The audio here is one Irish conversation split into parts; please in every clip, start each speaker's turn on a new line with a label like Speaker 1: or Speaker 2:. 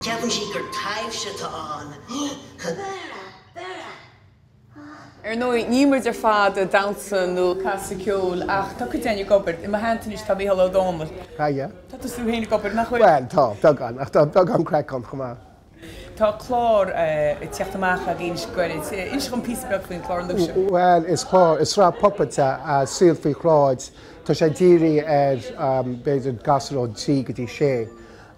Speaker 1: Ceapann sí gur
Speaker 2: taibhse atá ann. Ar ndóigh, níl muid ar fad ag damhsa nó ag casadh ceoil ach tá cuid againn ag obair. I mo theannta anois tá Micheál Ó Domhnaill. Tá tú féin ag obair, nach bhfuil? Bhuel, tá, beagán. Ach tá
Speaker 3: beagán craic ann chomh maith.
Speaker 2: Tá clár ag teacht amach againn go gairid. Inis dom píosa beag faoin chlár nua seo. Bhuel, is clár,
Speaker 3: is sraith puipéad é, Saol Faoi Shráid. Tá sé dírithe ar, b'fhéidir, gasúir ó thrí go dtí sé.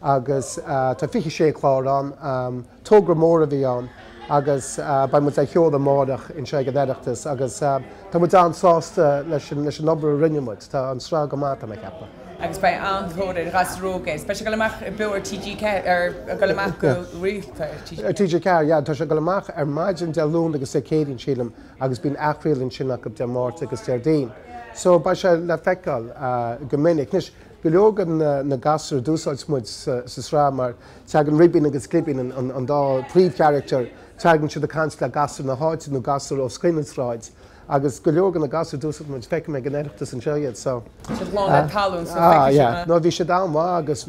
Speaker 3: Agus tá fiche sé chlár ann. Togra mór a bhí ann agus beidh muid á sheoladh amárach anseo ag an Oireachtas agus tá muid an-sásta leis an obair a rinne muid. Tá an sraith go maith, tá mé ag ceapadh. agus beidh
Speaker 2: an-tóir ar ghasúir óga. Beidh sé ag dul amach beo ar TG4 ar ag dul amach go rialta ar
Speaker 3: TG4. Ar TG4, yeah, tá sé ag dul amach ar maidin Dé Luain agus Dé Céadaoin, sílim, agus bíonn athchraoladh ansin acu Dé Máirt agus Déardaoin. So beidh sé le feiceáil go minic. Anois, go leor de na gasúir a d'úsáid muid sa sraith, mar teagann Ribín agus Glibín, an dá phríomhcharactar, teagann siad ag caint le gasúir na háite nó gasúir os cionn na sráide. Agus go leor de na gasúir a d'úsáid muid, feicim ag an Oireachtas anseo iad, so. Siad lán le
Speaker 2: tallann, so feicfidh sibh na. No, bhí
Speaker 3: siad an-mhaith agus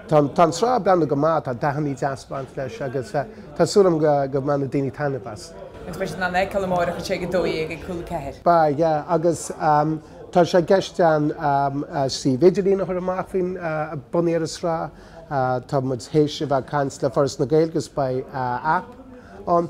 Speaker 3: tá an tsraith ag breathnú go maith, tá dathannaí deasa ag baint leis agus tá súil agam go mbainfidh daoine taitneamh as. Agus beidh siad in ann a
Speaker 2: fheiceáil amárach anseo ag a dó dhéag ag Cúla 4. Beidh, yeah,
Speaker 3: agus tá sé i gceist an suíomh idirlín a chur amach faoin, bunaithe ar an sraith, tá muid théis a bheith ag caint le Foras na Gaeilge agus beidh app ann.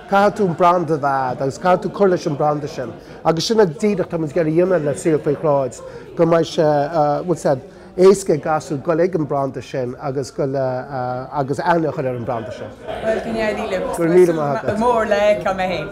Speaker 3: caithfidh tú an branda a bheith agat agus caithfidh tú cur leis an bhranda sin agus sin é díreach atá muid ag iarraidh a dhéanamh le Saol Faoi Shráid, go mbeidh sé, bhfuil a fhios agat, éasca ag gasúir dul ag an bhranda sin agus dul agus aithne a chur ar an bhranda sin. Bhuel, go n-éirí
Speaker 2: libh. Go raibh míle maith agat. Go raibh
Speaker 3: míle maith agat. Go mór le
Speaker 2: fheiceáil mé féin.